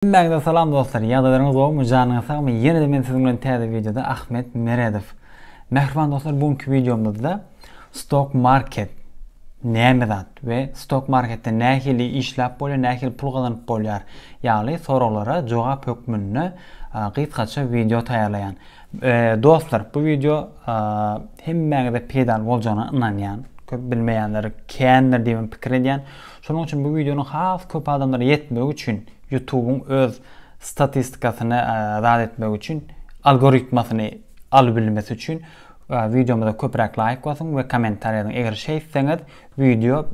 Hemmäňize salam dostlar ýagdaýlaryňyz gowumy janyňyz sagmy ýenede men siziň bilen täze wideoda Ahmet Meredow Mähriban dostlar bu günki wideomyzda stok market näme zat we stok marketde nähili işläp bolýar nähili pul gazanyp bolýar ýaly soraglara jogap hökmünde gysgaça wideo taýýarlaýan dostlar bu wideo hemmäňize peýdaly boljagyna ynanýan köp bilmeýänler kändir diýip pikir edýän Şonuň üçin bu wideonyň has köp adamlara ýetmegi üçin Youtubyň öz statistikasyny zat etmegi üçin algoritmasyny alyp bilmesi üçin wideomyza köpräk laýk basyň we kommentariýa ýazyň. Eger şeýtseňiz wideo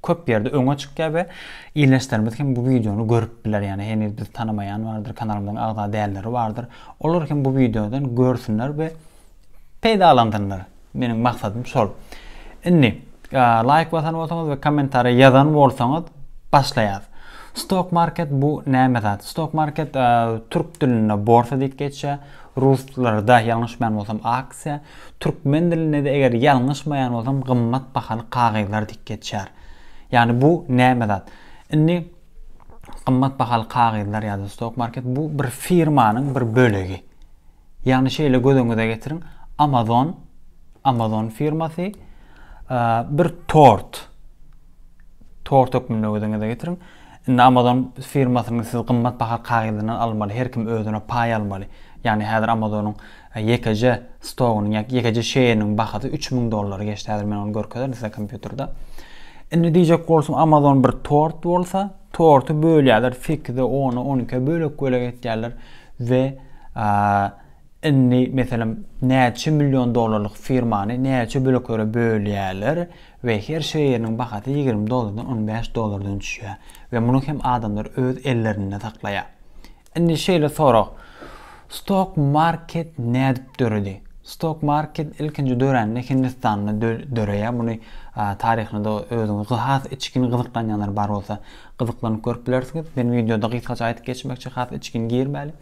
köp ýerde öňe çykýar we ildeşlerimiz hem bu wideony görüp biler. Ýani heniz bizi tanamaýan bardyr, kanalymyzyň agza dälleri bardyr. Olar hem bu wideodan görsünler we peýdalandylar. Meniň maksadym şol. Indi laýk basan bolsaňyz we kommentariý ýazan bolsaňyz başlaýas. Stock market bu näme zat? Stock market türk dilinde borsa diýip geçýär. Ruslarda ýalňyşmaýan bolsam aksiýa, türkmen dilinde de eger ýalňyşmaýan bolsam gymmat bahaly kagyzlar diýip geçýär. Ýagny bu näme zat? Indi gymmat bahaly kagyzlar ýa-da stock market bu bir firmanyň bir bölegi. Ýagny şeýle göz öňüňize getiriň, Amazon, Amazon firmasy bir tort, tort hökmünde göz öňüňize getiriň. Indi Amazon firmasynyň siz gymmat baha kagyzyndan almaly, her kim özüne paý almaly. Ýagny häzir Amazonyň e, ýekeje stogynyň ýa ýekeje şeýeriniň bahasy 3000 dollary geçdi. Häzir men ony görkezerin size kompýuterde. Indi diýjek bolsaň Amazon bir tort bolsa, Torty bölýärler, sekize, ona, on ikiye bölek-bölek etýärler we indi meselem näçe million dollarlyk firmany näçe böleklere bölýärler we her şeýeriniň bahasy ýigrimi dollardan on bäş dollardan düşýär we muny hem adamlar öz ellerinde saklaýar. Indi şeýle sorag, Stok market nädip döredi? Stok market ilkinji dörände Hindistanda döreýär. Muny taryhyna-da özüňiz has içgin gyzyklanýanlar bar bolsa, gyzyklanyp görüp bilersiňiz. Men wideoda gysgaça aýdyp geçmekçi, has içgin girmäli.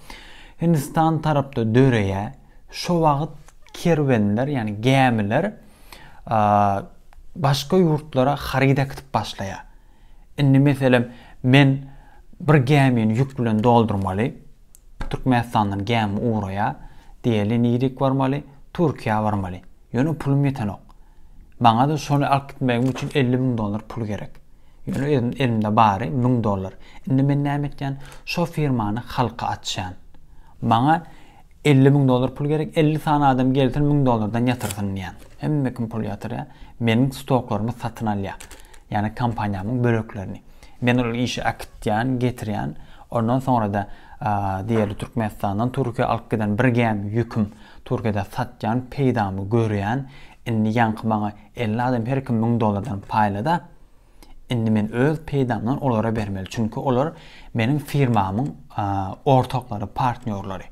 Hindistan tarapda döreýär. Şo wagt kerwenler, ýagny gämiler başga ýurtlara haryt äkitip başlaýar. Indi meselem, men bir gämini ýük bilen doldurmaly, Türkmenistandan gämi ugraýar, diýeli nirik barmaly, Türkiýä barmaly. Ýöne pulum ýetenok. Maňa-da şony alyp gitmegim üçin elli müň dollar pul gerek. Ýöne özüm elimde bary müň dollar. Indi men näme etýän? Şo firmany halka açýan. Maňa Elli müň dollar pul gerek, elli sany adam gelsin, müň dollardan ýatyrsyn diýýän. Hemme kim pul ýatyrýar. Meniň stoklarymy satyn alýar. Ýagny kompaniýamyň böleklerini. Men ol işi äkitýän, getirýän. Ondan soňra-da diýeli Türkmenistandan Türkiýä alyp giden bir gämi ýüküm Türkiýede satýan, peýdamy görýän. Indi ýaňky maňa elli adam her kim müň dollardan paýla-da. Indi men öz peýdamdan olara bermeli, çünki olar meniň firmamyň ortaklary, partnýorlary.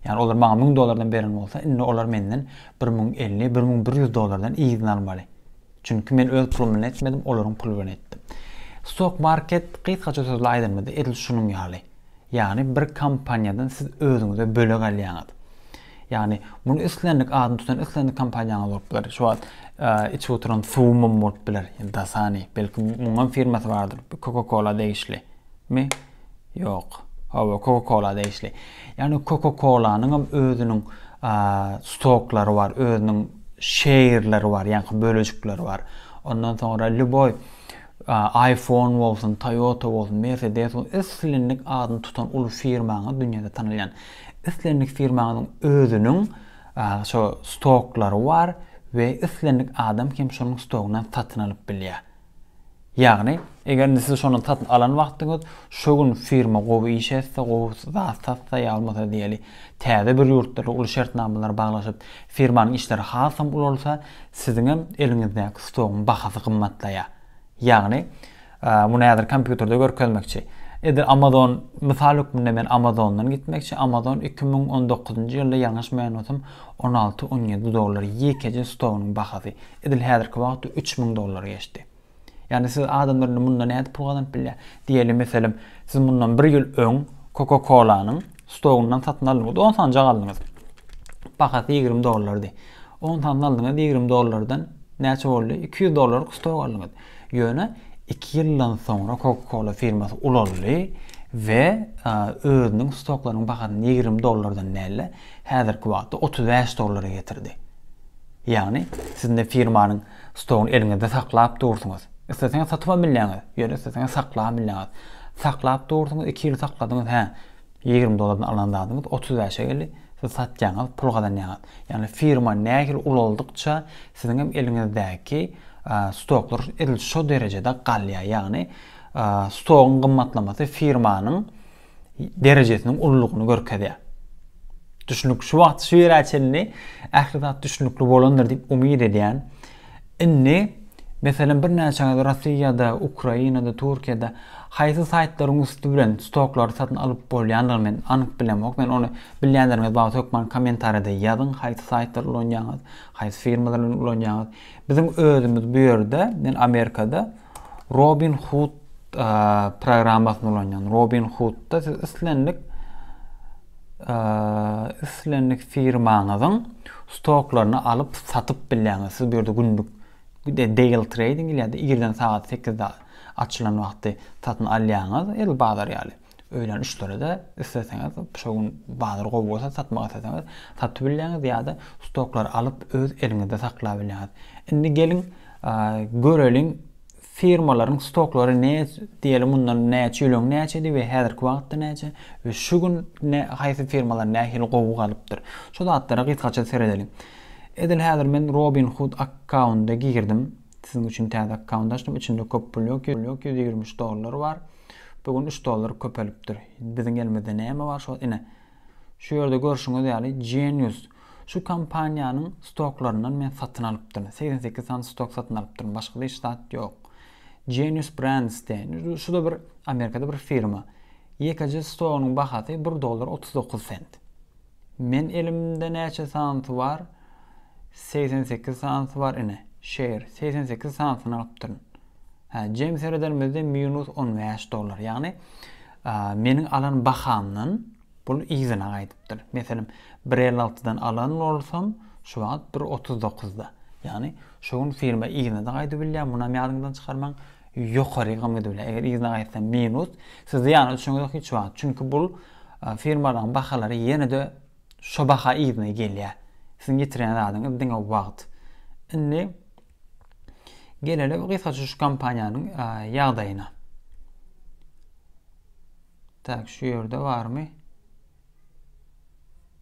Ýagny olar maňa müň dollardan beren bolsa, indi olar menden bir müň elli, bir müň bir ýüz dollardan yzyny almaly. Çünki men öz pulum bilen etmedim, olaryň puly bilen etdim. Stok market gysgaça sözle aýdanyňyzda edil şunuň ýaly. Ýagny bir kompaniýadan siz özüňize bölek alýaňyz. Ýagny, muny islendik adyny tutan islendik kompaniýaňyz bolup biler. Şu wagt içip oturan suwumam bolup biler. Dasani, belki muňam firmasy bardyr. Coca-Cola degişli mi? Ýok. Hawa, Coca-Cola degişli. Ýagny Coca-Cola-nyň hem özüniň stoklary bar, özüniň şeýrleri bar, ýaňky bölejikleri bar. Ondan soňra lýuboý iPhone bolsun, Toyota bolsun, Mercedes bolsun, islendik adyny tutan uly firmaňyz dünýäde tanalýan. Islendik firmaňyzyň özüniň şo stoklary bar we islendik adam hem şonuň stogyndan satyn alyp bilýär. Ýagny, eger indi siz şondan satyn alan wagtyňyz, şo gün firma gowy iş etse, gowy zat satsa ýa bolmasa diýeli, täze bir ýurtda uly şertnamalary baglaşyp, firmanyň işleri hasam ulalsa, siziňem eliňizdäki stogyň bahasy gymmatlaýar. Ýagny, Muny häzir kompýuterde görkezmekçi. Edil Amazon mysal hökmünde men Amazondan gitmekçi. Amazon iki müň on dokuzynjy ýylda ýalňyşmaýan bolsam on alty, on ýedi dollar ýekeje stogynyň bahasy. Edil häzirki wagtda üç müň dollary geçdi. Ýagny siz adamlar indi mundan nädip pul gazanyp bilýär? Diýeli meselem siz mundan bir ýyl öň Coca Colanyň stogyndan satyn aldyňyz. On sanjak aldyňyz. Bahasy ýigrimi dollardy. On sanjak aldyňyz ýigrimi dollardan näçe boldy? Iki ýüz dollaryk stog aldyňyz. Ýöne iki ýyldan soňra Coca-Cola firmasy ulaldy we özüniň stoklarynyň bahasyny ýigrimi dollardan däl-de, häzirki wagtda otuz bäş dollara getirdi. Ýagny, siz indi firmanyň stogyny eliňizde saklap dursuňyz. Isleseňiz satyp hem bilýäňiz, ýöne isleseňiz saklap hem bilýäňiz. Saklap dursuňyz, iki ýyl sakladyňyz, hä? Ýigrimi dollardan alan zadyňyz otuz bäşe geldi, siz satýaňyz, pul gazanýaňyz. Ýagny firma nähili ulaldykça siziň hem eliňizdäki stoklar edil şo derejede galýar. Ýagny stogyň gymmatlamasy firmanyň derejesiniň ululygyny görkezýär. Düşünik şu wagt şu ýere çenli ähli zat düşünikli bolandyr diýip umyt edýän. Indi, meselem, birnäçeňiz Rossiýada, Ukrainada, Türkiýede haýsy saýtlaryň üsti bilen stoklary satyn alyp bolýandygyny men anyk bilemok. Men ony bilýänleriňiz bar bolsa hökman kommentariýada ýazyň, haýsy saýtlary ulanýaňyz, haýsy firmalar bilen ulanýaňyz. Biziň özümiz bu ýerde, men Amerikada, Robinhood programmasyny ulanýan. Robinhoodda siz islendik islendik firmaňyzyň stoklaryny alyp satyp bilýäňiz. Siz bu ýerde günlük daily trading ýa-da irden sagat 8-de açylan wagty satyn alýaňyz, el bazar ýaly. Öýlenişleri-de isleseňiz, şo gün bazar gowy bolsa, satmak isleseňiz, satyp bilýäňiz ýa-da stoklary alyp, öz eliňizde saklap bilýäňiz. Indi geliň, göreliň, firmalaryň stoklary ne, diýeli, mundan näçe ýyl öň näçedi we häzirki wagtda näçe we şu gün haýsy firmalar nähili gowy galypdyr. Şu zatlara gysgaça seredeliň. Edil häzir men Robinhood akkaunta girdim. Siziň üçin täze akkaunt açdym içinde köp pul ýok ýok ýüz ýigrimi üç dollar bar bu gün üç dollar köpelipdir biziň elimizde näme bar şol ine şu ýerde görşüňiz ýaly genius şu kompaniýanyň stoklaryndan men satyn alypdyryn segsen sekiz sany stok satyn alypdyryn başga hiç zat ýok genius brands diýen şu da bir amerikada bir firma ýekeje stogynyň bahasy bir dollar otuz dokuz sent. Men elimde näçe sanysy bar segsen sekiz sanysy bar ine şeýr segsen sekiz sanysyny alypdyryn hä jem serederimizde minus on bäş dollar ýagny meniň alan bahamdan bul yzyna gaýdypdyr meselem bir elli altydan alan bolsam şu wagt bir otuz dokuzda ýagny şu gün firma yzyna-da gaýdybilýär munam ýadyňyzdan çykarmaň ýokarygy gymydy bilen eger yzyna gaýtsam minus sizde ýagny düşüniňiz hiç wagt çünki bul Firmalaryň bahalary ýene-de şo baha yzyna gelýär. Siziň ýitirýän zadyňyz diňe wagt. Indi gelelim gysgaça şu kompaniýanyň ýagdaýyna. Tak, şu ýerde barmy?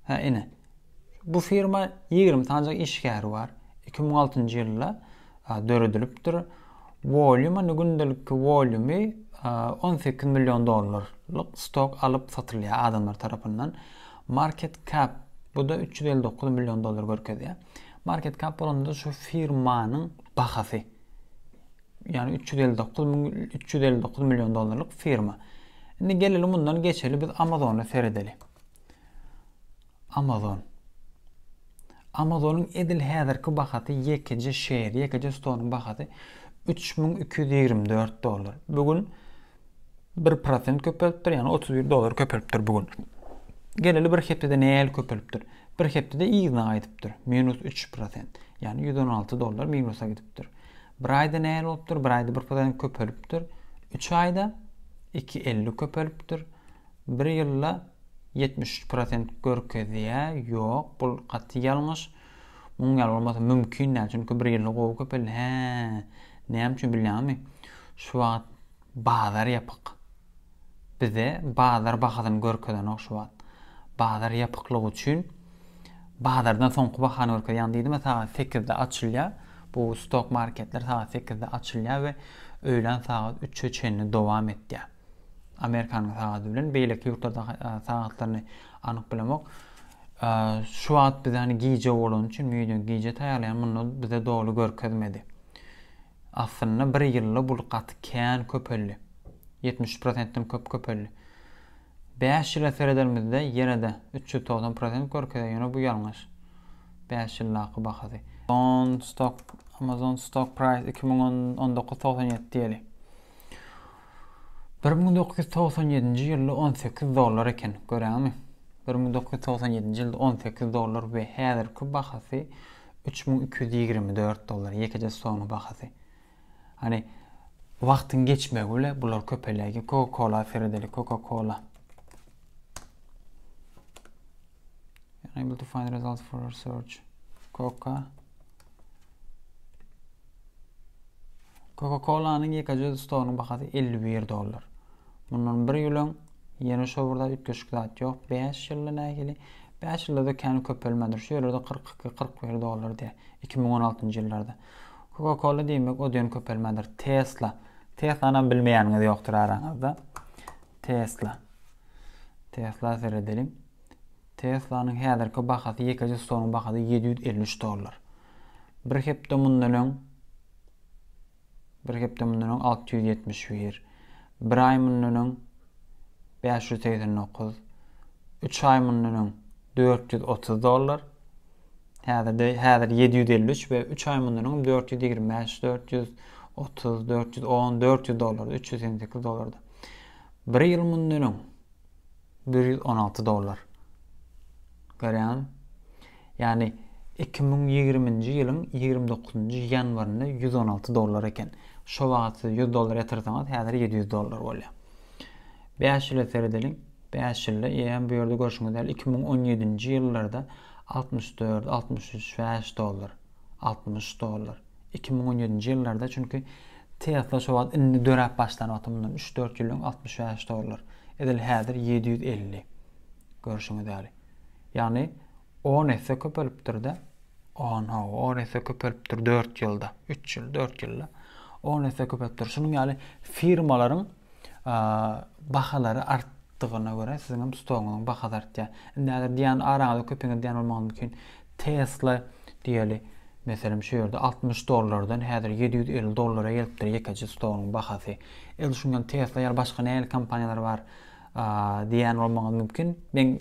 Hä, ine. Bu firma ýigrimi sanyjak işgäri bar. Iki müň altynjy ýylda döredilipdir. Wolýumy, gündelikki wolýumy on sekiz million dollarlyk stok alyp satylýar adamlar tarapyndan. Market cap bu-da üç ýüz elli dokuz million dollar görkezýär. Market cap bolanda şu firmanyň bahasy. Ýagny üç ýüz elli dokuz üç ýüz elli dokuz million dollarlyk firma. Indi geleli mundan geçeli biz Amazona seredeli. Amazon. Amazonyň edil häzirki bahasy ýekeje şer, ýekeje stoluň bahasy üç müň iki ýüz ýigrimi dört dollar. Bu gün bir prosent köpelipdir, ýagny otuz bir dollar köpelipdir bu gün. Geleli bir hepdede näl köpelipdir? Bir hepdede yzyna gaýdypdyr, minus üç prosent, ýagny ýüz on alty dollar minusa gidipdir. Bir aýda näl bolupdyr? Bir aýda bir prosent köpelipdir. Üç aýda iki elli köpelipdir. Bir ýylda ýetmiş üç prosent görkezýä ýok bul gaty ýalňyş muň ýaly bolmasy mümkin däl çünki bir ýylda gowy köpeldi hä näme üçin bilýäňmi şu wagt bazar ýapyk bize bazar bahasyny görkezenok şu wagt bazar ýapyklygy üçin bazardan soňky bahany görkezýär ýagny diýdim sagat sekizde açylýar bu stok marketler sagat sekizde açylýar we öýlän sagat üçe çenli dowam etýär. Amerikanyň sagady bilen beýleki ýurtlarda sagatlaryny anyk bilemok. Şu wagt bizde hani gije bolany üçin video gije taýýarlaýan munda bize doly görkezmedi. Aslynda bir ýylda bu gaty kän köpeldi. 70%-den köp köpeldi. 5 ýyla serederimizde ýene-de 390% görkezýär, ýöne bu ýalňyş. 5 ýyldaky bahasy. Amazon stock Amazon stock price 2019 97 diýeli. Bir müň dokuz ýüz togsan ýedinji ýylda on sekiz dollar eken, göräňmi? Bir müň dokuz ýüz togsan ýedinji ýylda on sekiz dollar we häzirki bahasy üç müň iki ýüz ýigrimi dört dollar, ýekeje soňy bahasy. Hany, wagtyň geçmegi bile bular köpelýär. Coca-Cola seredeli, Coca-Cola. Unable to find results for our search. Coca. Coca-Colanyň ýekeje stolynyň bahasy 51 dollar. Mundan bir ýyl öň ýene şo birde üýtgeşik zat ýok. 5 ýylda nähili? 5 ýylda-da kän köpelmändir. Şu ýerde 42-41 dollar diýe. 2016-njy ýyllarda. Coca-Cola diýmek o diýen köpelmändir. Tesla. Tesla-na bilmeýäniňiz ýokdur araňyzda. Tesla. Tesla seredeliň. Teslanyň häzirki bahasy ýekeje stolyň bahasy ýedi ýüz elli üç dollar. Bir hepde mundan öň bir hepde mundan öň alty ýüz ýetmiş bir, bir aý mundan öň bäş ýüz segsen dokuz, üç aý mundan öň dört ýüz otuz dollar, häzirde häzir ýedi ýüz elli üç we üç aý mundan öň dört ýüz ýigrimi bäş, dört ýüz otuz, dört ýüz on, dört ýüz dollarda, üç ýüz segsen sekiz dollarda. Bir ýyl mundan öň bir ýüz on alty dollar. Görýäňmi? Ýagny iki müň ýigriminji ýylyň ýigrimi dokuzynjy ýanwarynda ýüz on alty dollar eken. Şo wagt siz ýüz dollar ýatyrsaňyz, häzir ýedi ýüz dollar bolýar. Bäş ýyla seredeliň. Bäş ýylda eýýäm bu ýerde görşüňiz ýaly iki müň on ýedinji ýyllarda altmyş dört, altmyş üç, bäş dollar, altmyş dollar. Iki müň on ýedinji ýyllarda çünki Tesla şo wagt indi döräp başlan wagty mundan üç dört ýyl öň altmyş bäş dollar. Edil häzir ýedi ýüz elli. Görşüňiz ýaly. Ýagny on esse köpelipdir-de. On hawa on esse köpelipdir dört ýylda. Üç ýyl dört ýylda. On esse köpelipdir. Şunuň ýaly firmalaryň bahalary art artdygyna görä siziňem stogyňyzyň bahasy artýar. Indi häzir diýýän araňyzda köpiňiz diýýän bolmagy mümkin. Tesla diýeli, meselem şu ýerde altmyş dollardan häzir ýedi ýüz elli dollara gelipdir ýekeje stoluň bahasy. Edil şuň ýaly Tesla ýaly başga nähili kompaniýalar bar diýen bolmaňyz mümkin. Men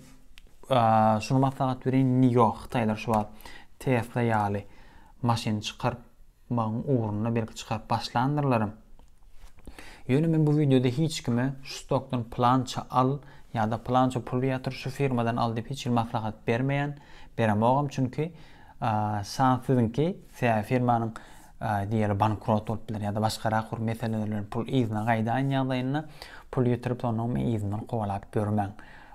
şuny maslahat bereýin, nio hytaýlar şu wagt Tesla ýaly maşyn çykaryp bagyň ugruna belki çykaryp başlandyrlarym. Ýöne men bu wideoda hiç kime şu stokdan pylança al ýa-da pylança pul ýatyr şu firmadan al diýip hiç hili maslahat bermeýän, beremogam çünki san siziňki sebäbi firmanyň diýeli bankrot bolup biler ýa-da başgarak bir meseleler bilen pul yzyna gaýdaýan ýagdaýynda pul ýitirip sonuň men yzyndan kowalap ýörmäň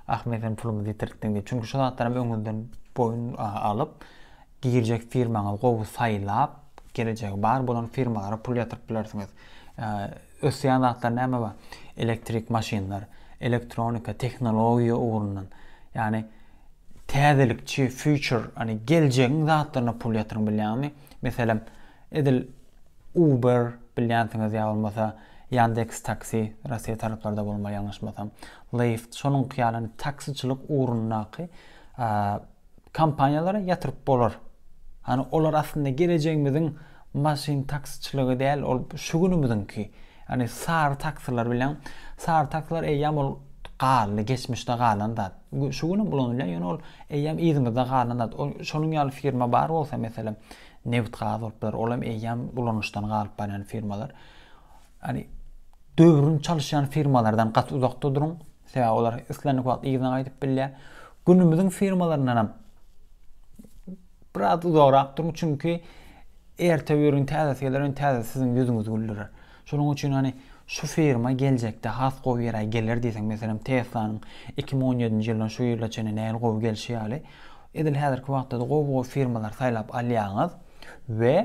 ah men seniň pulumyzy ýitirtdiň diýip çünki şu zatlaram öňüňizden boýun alyp Girjek firmaňyzy gowy saýlap, gelejegi bar bolan firmalara pul ýatyryp bilersiňiz. Ösýän zatlar näme bar? Elektrik maşynlar, elektronika, tehnologiýa ugrundan, ýagny täzelikçi, future, ýagny geljegiň zatlaryna pul ýatyryň bilýäňmi? Meselem, edil Uber bilýänsiňiz ýa bolmasa Yandex Taksi, Russiýa taraplarda bolmaly ýalňyşmasam, Lyft, şonuňky ýaly taksiçilik ugrundaky Kompaniýalara ýatyryp bolar. Hany olar aslynda gelejegimiziň maşyn taksiçiligi däl, ol şu günümiziňki. Hany sary taksiler bilen, sary taksiler eýýam ol galdy, geçmişde galan zat. Şu gün hem ulanylýar, ýöne ol eýýam yzymyzda galan zat. Ol şonuň ýaly firma bar bolsa, meselem, Nebit-gaz bolup biler, ol hem eýýam ulanyşdan galyp barýan firmalar. Ýagny döwrüni çalyşýan firmalardan gaty uzakda duruň, sebäbi olar islendik wagt yzyna gaýdyp bilýär. Günümiziň firmalaryndan hem biraz uzagrak duruň, çünki erte biriniň täzesi geler, ýöne täzesi siziň ýüzüňizi güldürer. Şonuň üçin hani şu firma geljekde has gowy ýere geler diýseň, meselem Tesla-nyň 2017-nji ýyldan şu ýyla çenli nähili gowy gelşi ýaly, edil häzirki wagtda-da gowy-gowy firmalary saýlap alýaňyz we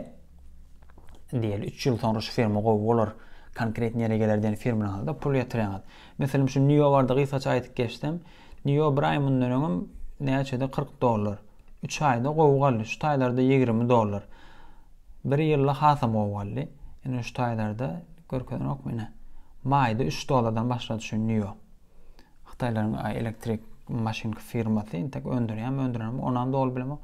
Diýeli üç ýyl soňra şu firma gowy bolar, konkret ýere geler diýen firmalaňyzda pul ýatyraňyz. Meselem şu NIO barda gysgaça aýdyp geçsem, NIO bir aý mundan öňem näçedi kyrk dollar. Üç aýda gowy galdy, şu taýlarda ýigrimi dollar. Bir ýylda hasam gowy galdy. Ine şu taýlarda görkezenokmy ine. Maýda üç dollardan başlady şu NIO. Hytaýlaryň elektrik maşynky firmasy intek öndürýärmi, öndürenmi, onam doly bilemok.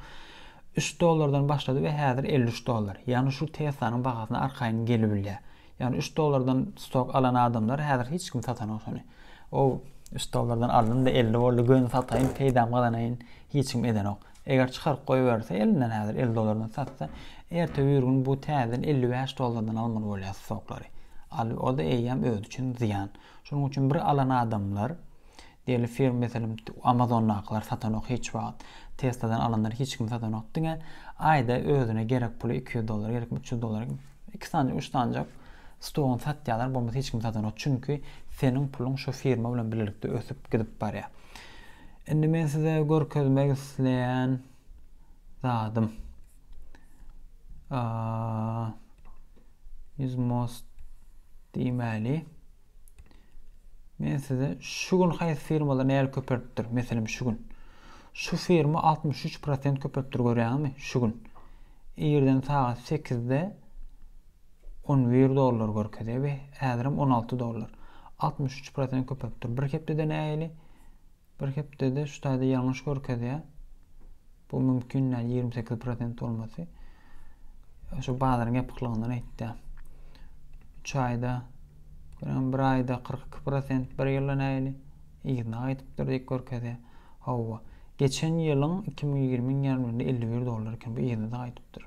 3 dollardan başlady we häzir 53 dollar. Ýagny şu Teslanyň bahasyna arkaýyn gelibilýär. Ýagny 3 dollardan stok alan adamlar häzir hiç kim satanok şony. O 3 dollardan aldym-da 50 boldy, göni sataýyn, peýdam gazanaýyn, hiç kim edenok. Eger çykaryp goýberse elinden häzir 50 dollardan satsa, erte bir gün bu täzeden 55 dollardan almaly bolýar stoklary. Al, o-da eýýäm özi üçin zyýan. Şonuň üçin bir alan adamlar diýeli firm meselem amazondakylar satanok hiç wagt tesladan alanlar hiç kim satanok diňe aýda özüne gerek puly iki ýüz dollar gerekmi üç ýüz dollar iki sany üç sanjak stogyny satýalar bolmasa hiç kim satanok çünki seniň puluň şu firma bilen bilelikde ösüp gidip barýar indi men size görkezmek isleýän zadym Is most diýmäli. Men size şu gün haýsy firmalar näle köpeltdir? Meselem şu gün. Şu firma 63% köpeltdir görýäňmi? Şu gün. Irden sagat 8-de 11 dollar görkezýär we häzirem 16 dollar. 63% köpeltdir. Bir hepdede näli? Bir hepdede şu taýda ýalňyş görkezýär. Bu mümkin däl 28 prosent bolmasy. Şu bazaryň ýapyklygyndan aýtýar. 3 aýda görem bir aýda 42 prosent, bir ýylda näýli yzyna gaýdypdyr diýip görkezýär. Hawa, geçen ýylyň 2020-nji ýarymýylynda 51 dollar eken, bu yzyna gaýdypdyr.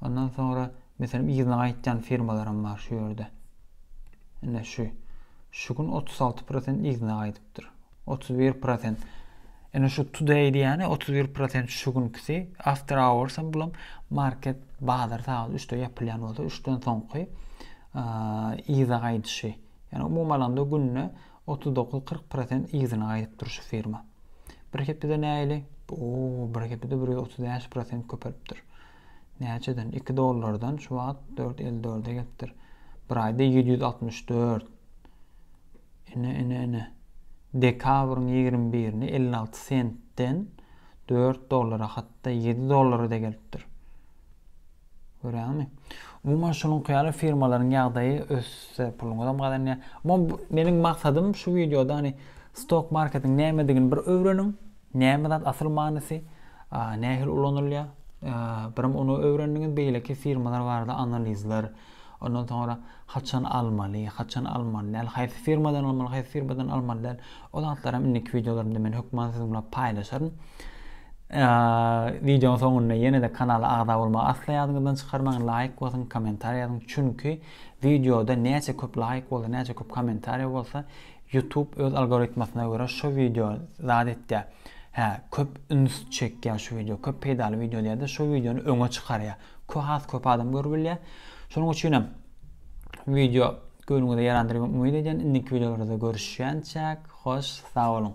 Ondan soňra meselem yzyna gaýtýan firmalaram bar şu ýerde. Ine şu şu gün 36% yzyna gaýdypdyr. 31% Ene şu today diýýäni 31% şu günkisi, after hours hem bulam market bazar sagat 3-de ýapylýan bolsa 3-den soňky yza gaýdyşy. Ýani umuman alanda günde Otuz dokuz kyrk prosent yzyna gaýdyp dur şu firma. Bir hepede nähili? Oo bir hepede bir ýüz otuz bäş prosent köpelipdir. Näçeden? Iki dollardan şu wagt dört elli dörde gelipdir. Bir aýda ýedi ýüz altmyş dört. Ine ine ine. Dekabryň ýigrimi birine elli alty sentden dört dollara hatda ýedi dollara da gelipdir. Görýäňmi? Umuman şunuňky ýaly firmalaryň ýagdaýy össe puluňyzam gazanýar. Mom meniň maksadym şu wideoda hani stok marketiň nämedigini bir öwreniň. Näme zat asyl manysy, nähili ulanylýar? Birim ony öwrendiňiz, beýleki firmalar barada analizler, ondan soňra Haçan almaly, haçan almaly däl, haýsy firmadan almaly, haýsy firmadan almaly däl, o zatlaram indiki wideolarymda men hökman siziň bilen paýlaşaryn. Wideonyň soňunda ýene-de kanala agza bolmagy asla ýadyňyzdan çykarmaň, laýk basyň, kommentariýa ýazyň, çünki wideoda näçe köp laýk bolsa, näçe köp kommentariýa bolsa, YouTube öz algoritmasyna görä şu wideo zat etýär. Hä, köp üns çekýär şu wideo, köp peýdaly wideo diýýär-de, şu wideony öňe çykarýar. has köp adam görüp bilýär. Şonuň üçin hem wideo göwnüňize ýarandyr diýip umyt edýän. Indiki wideolarda görüşýänçäk, hoş, sag boluň.